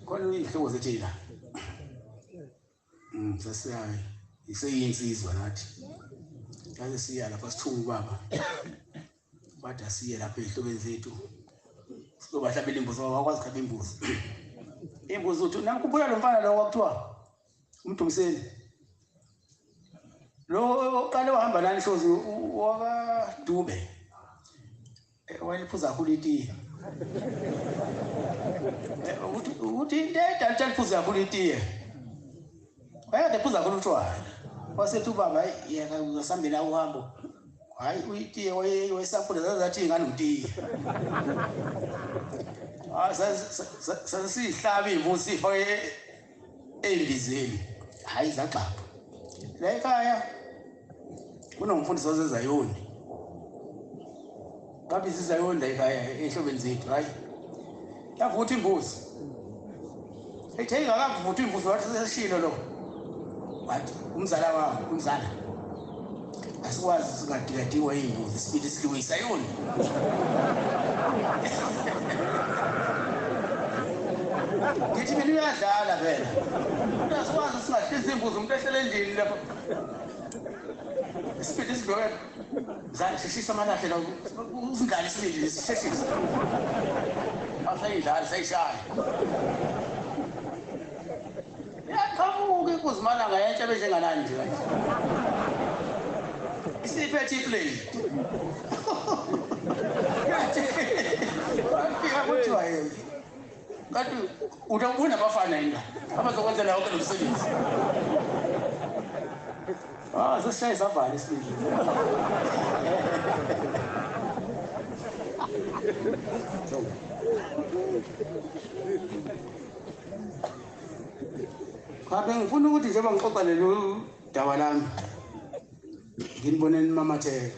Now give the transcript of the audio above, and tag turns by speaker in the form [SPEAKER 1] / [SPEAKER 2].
[SPEAKER 1] khona uyinhloko zethu yila mm sesiyayi iseyinsizwa nathi yaze siya lapha sithunga ubaba bathi asiye lapha ezihlobeni zethu sizobahlabela imbuzi ngoba wakwazi khaba imbuzi imbuzi uthi namkhumbula lo mfana lo kwakuthiwa umdumiseni lo oqale wahamba nani hlozi wakadube Eh, wena iphuza kakhulu itiye eh, ukuthi into edalitsha liphuza kakhulu itiye wayekade ephuza kakhulu utshwala wasethi ubaba yena uzasambela uhambo hhayi uyitiye wayesaphula zazathi ingane utiye ah, sasisiyihlabi ivusi ifake endizeni hayi zagxapha la ekhaya kunomfundisi wasezayoni babiza izayoni la ekhaya ehlobeni zethu hayi yavutha imbuzi ethe ingakavuthwa imbuzi wathi seshilo lo wathi umzala wami umzala asikwazi singadikadingwa iy'ngozi sibili silungisa yona ngithi mina uyadlala vele umuntu asikwazi singahlisa imbuzi umuntu ehlele endlini lapho isibili siloke zasheshisa amalahle la usindlala isibili sisheshisa asayidlali sayishaya Iyaqhamuka inkunzi malanga yentsha benjengalani nje kanje. Isiphethe iplane. Bafika kuthiwa yini? Kanti utakubona abafana yini la? Abazokwenzela yonke lo msebenzi. Ah, zoshaye zavala isibili. Thank you. Cha bengifuna ukuthi njengoba ngixoxa lelo daba lami nginibone nimamatheka.